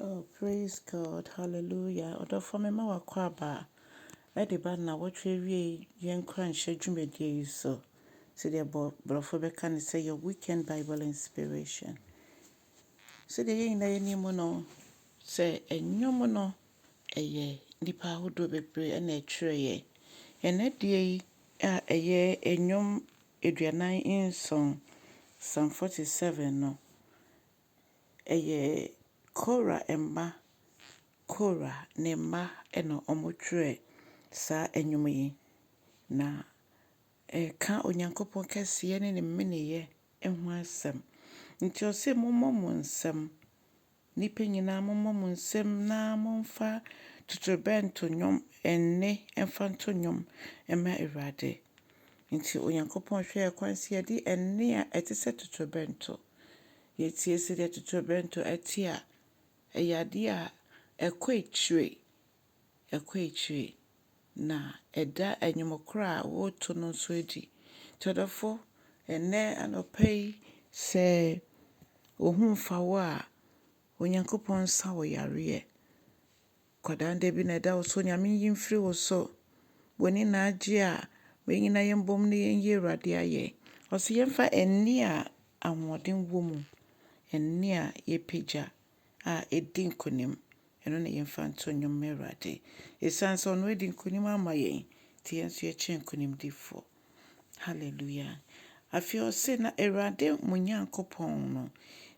Oh praise God hallelujah ɔdɔfoɔ me ma wakɔ aba ɛde ba nnawɔtwe awieɛ yi yɛn nkuranhyɛ dwumadie yi so sɛdeɛ bɔ borɔfo bɛka ne sɛ your weekend Bible inspiration sɛdeɛ yɛn nyinaa yɛnim mu no sɛ ɛnwom no ɛyɛ nnipa ahodoɔ bebree ɛna ɛtwerɛ yɛ ɛnɛ deɛ yi a ɛyɛ ɛnwom aduanan nson Psalm 47 no ɛyɛ Kora mma, Kora ne mma na wɔtwerɛɛ saa nnwom yi, na ɛka Onyankopɔn kɛseyɛ ne ne meneeɛ ho asɛm. Nti ɔse mommɔ mo nsam, nnipa nyinaa mommɔ mo nsam na momfa totorobɛnto nnwom nne mfa nto nnwom mma Awurade. Enti Onyankopɔn hwɛɛ kwan sɛ yɛde ɛnne a ɛte sɛ totorobɛnto. Yetie sɛdeɛ totorobɛnto te a, ɛyɛ adeɛ a ɛkɔ akyire, ɛkɔ akyire, na ɛda nnwom korɔ a wɔreto no nso adi. Nti ɔdɔfo, ɛnnɛ anɔpa yi, sɛ wo ho mfa wo a, Onyankopɔn nsa wo yareɛ. Kwadaa da bi na ɛda wo so, Nyame nyi mfiri wo so. W'ani na agye a, ma yɛn nyinaa yɛn bom na yɛn yi Awurade ayɛ. Ɔse yɛn fa ɛnne a ahoɔden wɔ mu, ɛnne a yɛpagya a ɛdi nkunim, ɛno na yɛn fa nto nnwom ma Awurade. Ɛsiane sɛ ɔno adi nkunim ama yɛn nti, yɛn nso yɛkyɛ nkunimdifoɔ. Hallelujah. Afei ɔse na Awurade mo Nyankopɔn no,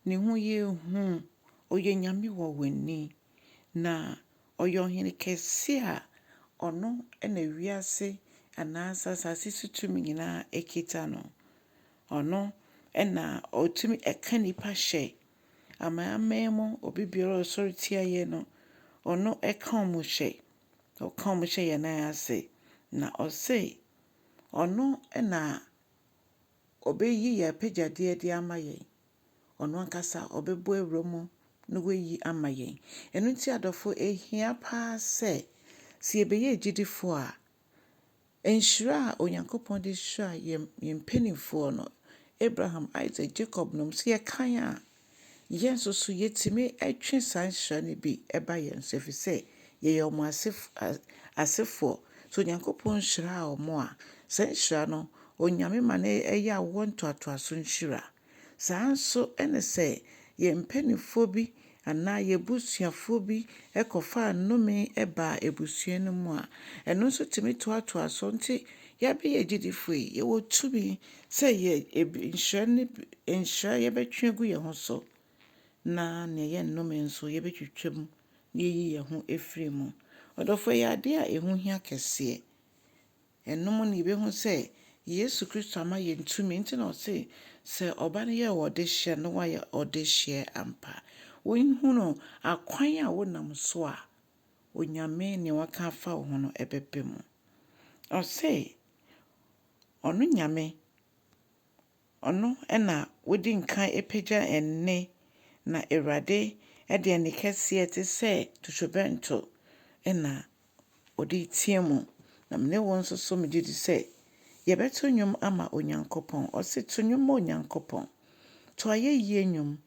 ne ho yɛ hu, ɔyɛ Nyame wɔ w'ani. Na ɔyɛ ɔhene kɛse a ɔno na wiase anaasɛ asase so tumi nyinaa kita no. Ɔno na ɔtumi ka nnipa hyɛ amanaman mu, obi biara a ɔsɔre tia yɛn no, ɔno ka wɔn hyɛ, ɔka wɔn hyɛ yɛn nan ase. Na ɔse ɔno na ɔbɛyi yɛn apɛgyadeɛ de ama yɛn. Ɔno ankasa ɔbɛbɔ awura mu na wayi ama yɛn. Ɛno nti adɔfo, ehia paa sɛ, sɛ yɛbɛyɛ agyidifo a, nhyira a Onyankopɔn de hyiraa yɛn yɛn mpanimfoɔ no, Abraham, Isak, Jacob nom, sɛ yɛkan a, yɛn nso so yɛtumi twe saa nhyira no bi ba yɛn so, ɛfiri sɛ yɛyɛ wɔn asef, asefoɔ. Sɛ Onyankopɔn hyiraa wɔn a, saa nhyira no, Onyame ma no yɛ awoɔ ntoatoaso nhyira. Saa ara nso ne sɛ yɛn mpanimfoɔ bi anaa yɛn abusuafoɔ bi kɔfaa nnome baa abusua no mu a, ɛno nso tumi toatoa so. Enti yɛabɛyɛ agyidifoɔ yi, yɛwɔ tumi sɛ nhyira no bi, nhyira yɛbɛtwe agu yɛn ho so, na nea ɛyɛ nnome nso yɛbɛtwitwa mu na yɛayi yɛn ho afiri mu. Ɔdɔfoɔ, ɛyɛ adeɛ a ɛho hia kɛseɛ. Ɛno mu na yɛbɛhu sɛ Yesu Kristo ama yɛn tumi nti na ɔse, Sɛ Ɔba no yɛ ɔdehyeɛ na wayɛ ɔdehyeɛ ampa. Wohunu akwan a wonam so a Onyame nea waka afa wo ho no ɛbɛba mu. Ɔse, Ɔno Nyame. Ɔno na wodi nkan pagya nne, na Awurade de ɛnne kɛseɛ te sɛ totorobɛnto na ɔde reteam. Na me ne wo nso so megye di sɛ yɛbɛto nnwom ama Onyankopɔn. Ɔse to nnwom ma Onyankopɔn. To ayɛyie nnwom.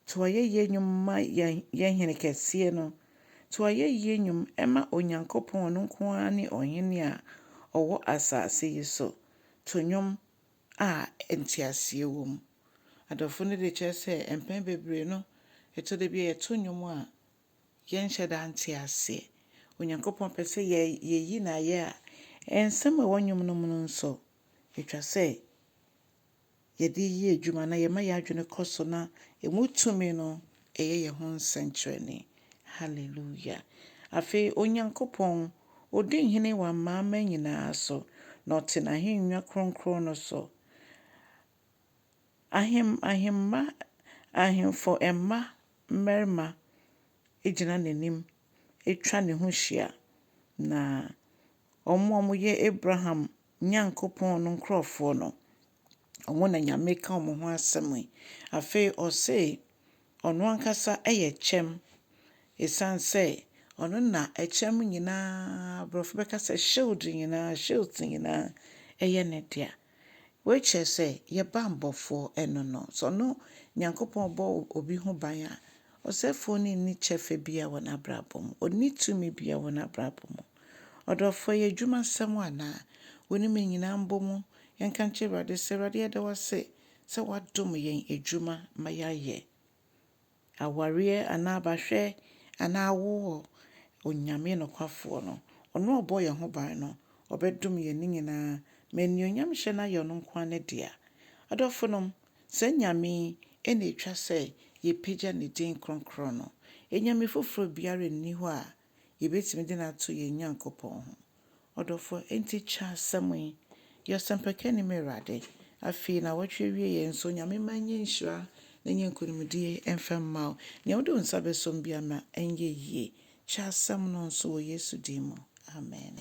To ayɛyie nnwom ma yɛn yɛn Hene kɛseɛ no. To ayɛyie nnwom ma Onyankopɔn, ɔno nko ara ne Ɔhene a ɔwɔ asase yi so. To nnwom. a nteaseɛ wɔ mu. Adɔfo no de kyerɛ sɛ mpɛn bebree no, ɛtɔ da bi a yɛto nnwom a, yɛnhyɛ da nte aseɛ. Onyankopɔn pɛ sɛ yɛyi no ayɛ a, nsɛm a ɛwɔ nnwom no mu no nso, ɛtwa sɛ yɛde yɛ adwuma na yɛma yɛn adwene kɔ so na ɛmu tumi no Ɛyɛ yɛn ho nsɛnkyerɛnne. Haleluia! Afei Onyankopɔn, odi hene wɔ amanaman nyinaa so, na ɔte n'ahennwa kronkron no so. Ahem, ahemma, ahemfo mma mmarima gyina n'anim atwa ne ho hyia, na wɔn a wɔyɛ Abraham Nyankopɔn no nkurɔfoɔ no, Wɔn na Nyame reka wɔn ho asɛm yi. Afei ɔse ɔno ankasa yɛ kyɛm. Esiane sɛ ɔno na ɛkyɛm nyinaa, Borɔfo bɛka sɛ shield nyinaa, shields nyinaa yɛ ne dea. Wei kyerɛ sɛ yɛn bammɔfoɔ ɛno no. Sɛ ɔno Nyankopɔn bɔ obi ho ban a, ɔsɛefoɔ no nni kyɛfa biara wɔ n'abrabɔ mu. Ɔnni tumi biara wɔ n'abrabɔ mu. Ɔdɔfoɔ, ɛyɛ adwuma sɛm anaa? Wonim nyinaa mbɔ mu. Yɛnka nkyerɛ Awurade sɛ, Awurade yɛda wo ase sɛ woadom yɛn adwuma ma yɛayɛ. Awareɛ anaa abahwɛ anaa awoɔ, Onyame nokwafoɔ no, ɔno a ɔbɔɔ yɛn ho ban no, ɔbɛdom yɛn ne nyinaa ma animuonyamhyɛ no ayɛ ɔno nko ara ne dea. Adɔfonom, saa Nyame yi na ɛtwa sɛ yɛpagya ne din kronkron no. Anyame foforɔ biara nni hɔ a yɛbɛtumi de no ato yɛn Nyankopɔn ho. Ɔdɔfo, enti kyɛ asɛm yi. Yɛ ɔsɛmpakani, m'Awurade. Afei, nnawɔtwe awieeɛ nso, Nyame mma nyɛ nhyira na nyɛ nkonimdie mfa mma wo. Nea wode wo nsa bɛsɔm biara, ma ɛnyɛ yie. Kyɛ asɛm no nso wɔ Yesu din mu, amene.